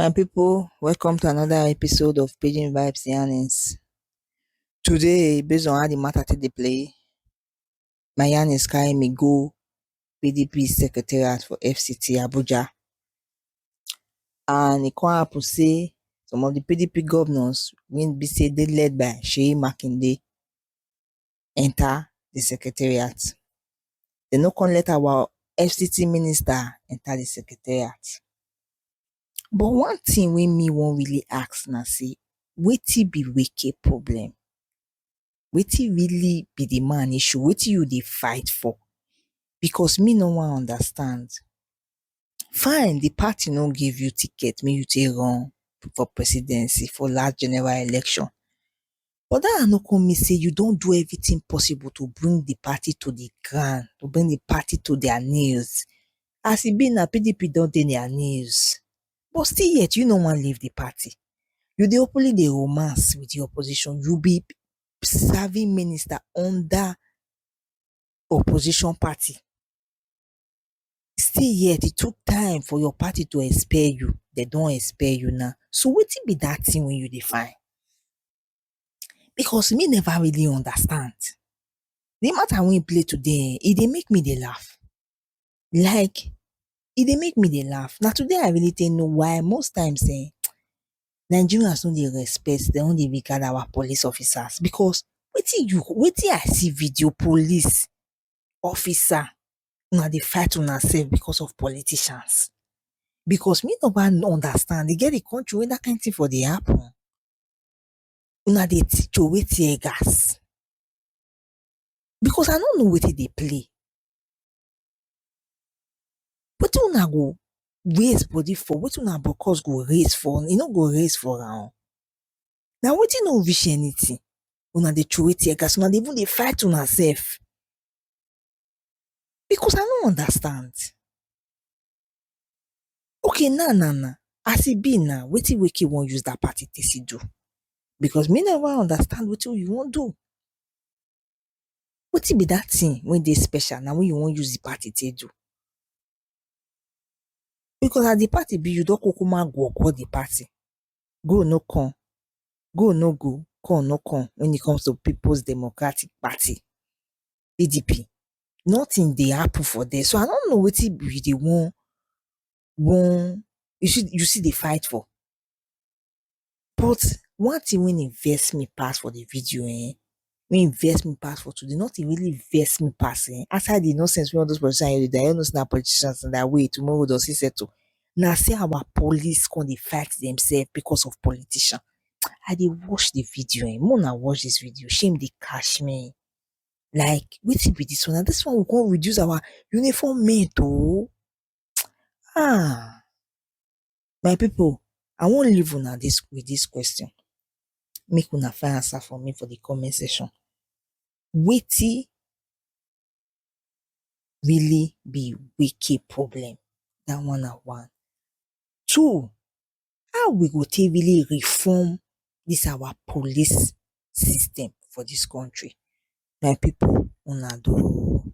My people, welcome to another episode of Pidgin Vibes Yarnings. Today, based on how the matter take dey play, na Eunice carry me go PDP secretariat for FCT Abuja and e come happen sey some of di PDP governors wey be sey dey led by Seyi Makinde enter di secretariat, dem no come let our FCT minister enter di secretariat but one thing wey me wan really ask na sey wetin be Wike problem? wetin really be the man issue wetin you dey fight for because me no wan understand fine the party no give you ticket make you take run for presidency for last general election but that one no come mean say you don do everything possible to bring the party to the ground to bring the party to their knees as e be now pdp don dey their knees but still yet you no wan leave the party. You dey openly dey romance with the opposition, you be serving minister under opposition party still yet e took time for your party to expel you, dem don expel you now, so wetin be that thing wey you dey find? Because me never really understand, the matter wey you play today ehn, e dey make me dey laugh. Like e dey make me dey laugh. Na today I really take know why most times um Nigerians no dey respect, dem no dey regard our police officers because wetin you wetin I see video police officer, una dey fight una self because of politicians. Because me never understand, e get the country wey that kind thing for dey happen? Una dey throway tear gas because I no know wetin dey play. Wetin una go raise body for, wetin una bokkos go raise for, e no go raise for una. Na wetin no reach anything una dey throway tear gas, una dey even dey fight una sef. Because I no understand. Okay now now now, as e be now, wetin Wike wan use dat party take still do? Because me no even understand wetin you wan do. Wetin be dat thing wey dey special now wey you wan use di party take do? Because as di party be, you don kukuma go go di party, go no come, go no go, come no come wen e comes to Peoples Democratic Party, PDP, nothing dey happen for there, so I no know wetin you dey wan wan, you still dey fight for. But one thing when e vex me pass for the video eh, when e vex me pass for today, not e really vex me pass eh, aside the nonsense when all those politicians dey do, I don't know say na politicians and that way tomorrow does he settle. Na say our police come dey fight themselves because of politician. I dey watch the video eh, make una watch this video, shame dey catch me. Like wetin be this one, na this one we come reduce our uniform men to? um My pipu I wan leave una dis with dis question make una find answer for me for de comment section. Wetin really be wicked problem? Dat one na one. Two, how we go take really reform dis our police system for dis country? My pipu una do oo.